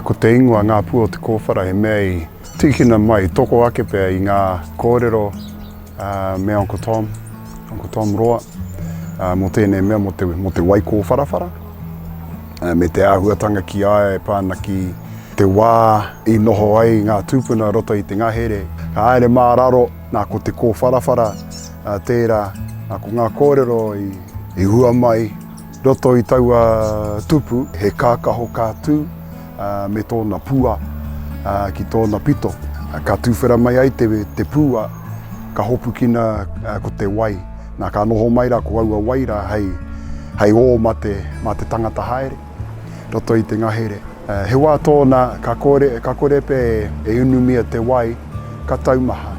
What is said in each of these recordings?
Ko te ingoa Ngā Pua o Te Kōwhara he mea i tīkina mai, i toko ake pea i ngā kōrero me Uncle Tom, Uncle Tom Roa, mō tēnei mea, mō te wai kōwharawhara, me te āhuatanga ki a ia e pā ana ki te wā i noho ai ngā tūpuna i roto i te ngahere. Ka haere mā raro, nā ko te kōwharawhara tērā, nā ko ngā kōrero i hua mai, Roto i taua tupu, he kākaho ka tū me tōna pua ki tōna pito. Ka tūwhera mai ai te pua, ka hopukina ko te wai. Nā, ka noho mai rā ko aua wai rā hei ō mā te tangata haere, roto i te ngahere. He wā tōna ka kore, ka kore pea e unumia te wai, ka taumaha.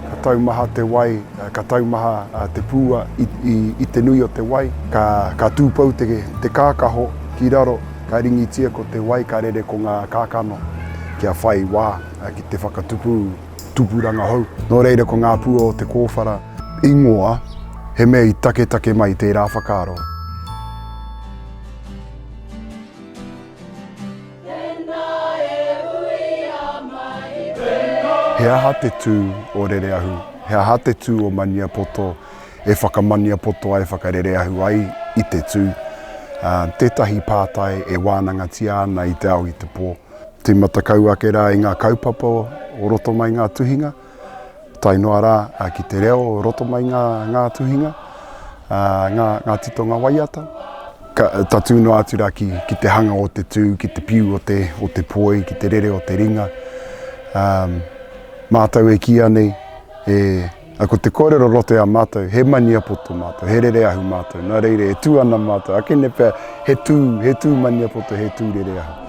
Ka taumaha te wai, ka taumaha te pūa i te nui o te wai. Ka tūpou te kākaho ki raro, ka ringitia ko te wai, ka rere ko ngā kākano kia whai wā ki te whakatupu tupuranga hou. Nō reira ko ngā pua o te kōwhara ingoa he mea i taketake mai tērā whakaaro. He aha te tū o Rereahu? He aha te tū o Maniapoto e whakamaniapoto ai, whakarereahu ai i te tū? Tētahi pātai e wānangatia ana i te ao i te pō. Tīmata kau ake rā i ngā kaupapa o roto mai ngā tuhinga. tae noa rā ki te reo roto mai ngā, ngā tuhinga, ngā, ngā titonga waiata. Ka, tatū noa atu rā ki, ki te hanga o te tū, ki te piu o te, o te poi, ki te rere o te ringa. Um, mātou e kīa nei, e, a ko te kōrero roto i a mātou, he maniapoto mātou, he rere ahu mātou, nā reira e tū ana mātou, akene pea he tū, he tū maniapoto, he tū rere ahu.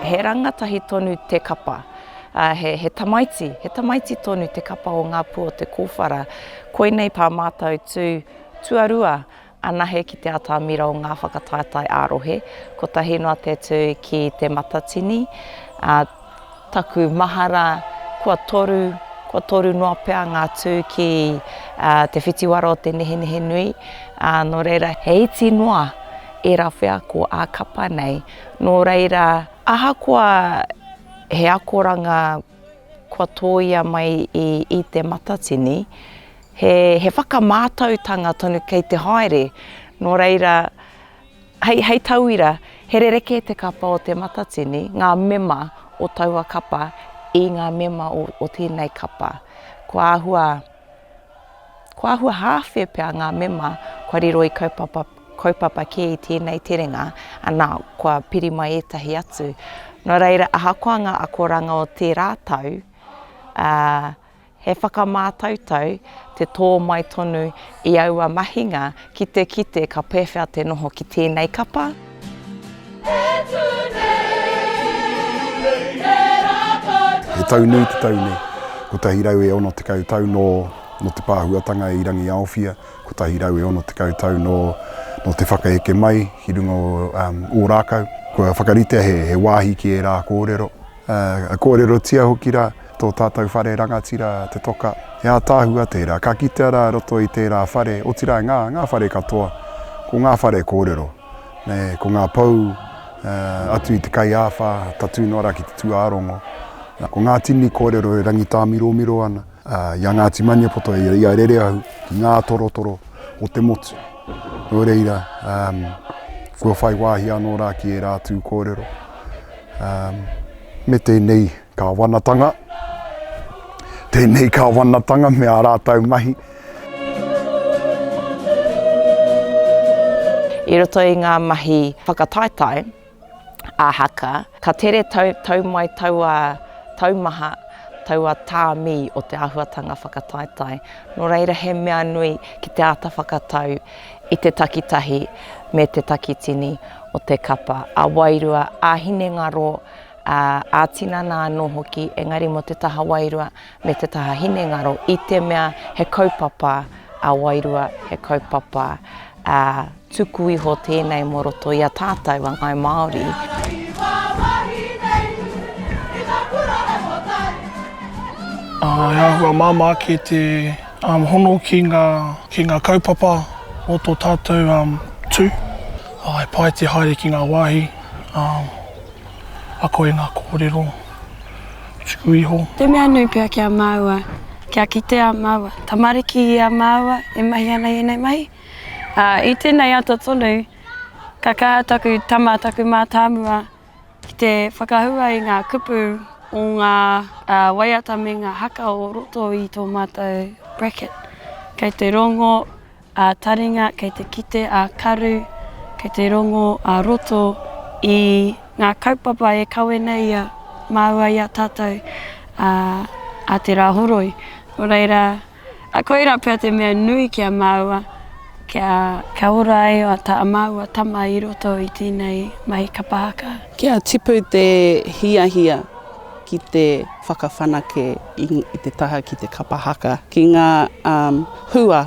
He rangatahi tonu te kapa, he tamaiti, he tamaiti tonu te kapa o Ngā Pū o Te Kōwhara. Koinei tā mātou tū tuarua anahe ki te atamira o ngā whakataetae ā-rohe, kotahi noa te tū ki Te Matatini, Taku mahara, kua toru, kua toru noa pea ngā tū ki te whitiwara o te nehenehe nui, ā, nō reira, he iti noa ērā wheako ā-kapa nei, nō reira, ahakoa he akoranga kua tōia mai i Te Matatini, he whakamātautanga tonu kei te haere, nō reira, Hei, hei tauira, he rerekē te kapa o Te Matatini, ngā mema o taua kapa, i ngā mema o, o tēnei kapa. Kua āhua, kua āhua hāwhe pea ngā mema kua riro i kaupapa, kaupapa kē i tēnei terenga, anā, kua piri mai ētahi atu. Nō reira, ahakoa ngā akoranga o tērā tau, ā, He whakamātautau te tō mai tonu i aua mahinga ki te kite ka pēwhea te noho ki tēnei kapa. He tau nui te tau nei, 160 tau nō te pāhuatanga i Rangiaowhia, 160 tau nō te whakaeke mai ki runga o Ōrākau. Kua whakaritea he wāhi ki ērā kōrero, Ka kōrerotia hoki rā tō tātou whare rangatira, te toka, he ātaahua tērā, ka kitea rā i roto i tērā whare, otirā ngā, ngā whare katoa, ko ngā whare kōrero, ko ngā pou atu i te kai āwhā, tatū noa rā ki te tūārongo, ko ngā tini kōrero e rangitāmiromiro ana i a Ngāti Maniapoto, i a Rereahu, ki ngā torotoro o te motu. Nō reira, kua whai wāhi anō rā ki ērā atu kōrero. Me tēnei Kāwanatanga, tēnei Kāwanatanga me ā rātou mahi. I roto i ngā mahi whakataetae a Haka, ka tere tau mai taua taumaha, taua tāmi o te āhuatanga whakataetae. Nō reira he mea nui ki te āta whakatau i te takitahi me te takitini o te kapa, ā-wairua, ā-hinengaro, ā-tinana anō hoki, engari mō te taha wairua me te taha hinengaro, i te mea he kaupapa ā-wairua, he kaupapa tuku iho tēnei mō roto i a tātou a Ngāi Māori. He āhua māmā kē te. Hono ki nga ki nga kaupapa o to tatou tu, he pai te haere ki nga wahi ako i nga korero tuku iho. Te mea nui pea ki a maua, kia kite a maua tamariki i a maua e mahi ana i enei mahi. I tenei ata tonu, ka kaha taku tama, taku matamua, ki te whakahua i ngā kupu o ngā waiata me ngā haka o roto i tō mātou bracket. Kei te rongo a taringa, kei te kite a karu, kei te rongo a roto i ngā kaupapa e kawe nei ia māua i a tātou a te rā horoi. Nō reira, A koira pea te mea nui ki a māua, kia. Kia ora ai a tā māua tama i roto i tēnei mahi kapa haka. Kia tipu te hiahia ki te whakawhanake i te taha ki te kapa haka, ki ngā hua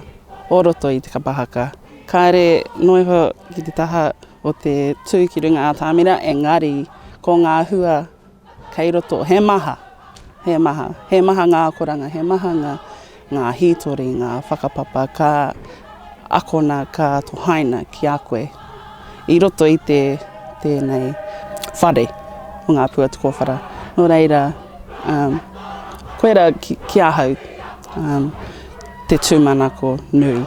o roto i te kapa haka. Kāre noa iho ki te taha o te tū ki runga atamira, engari ko ngā hua Kei roto, he maha, he maha, he maha ngā akoranga, he maha ngā, ngā hītori, ngā whakapapa ka akona, ka tohaina ki a koe i roto i te, tēnei whare o ngā pua tukowhara. Nō reira, um, koe ra ki, ki ahau um, te tūmanako nui.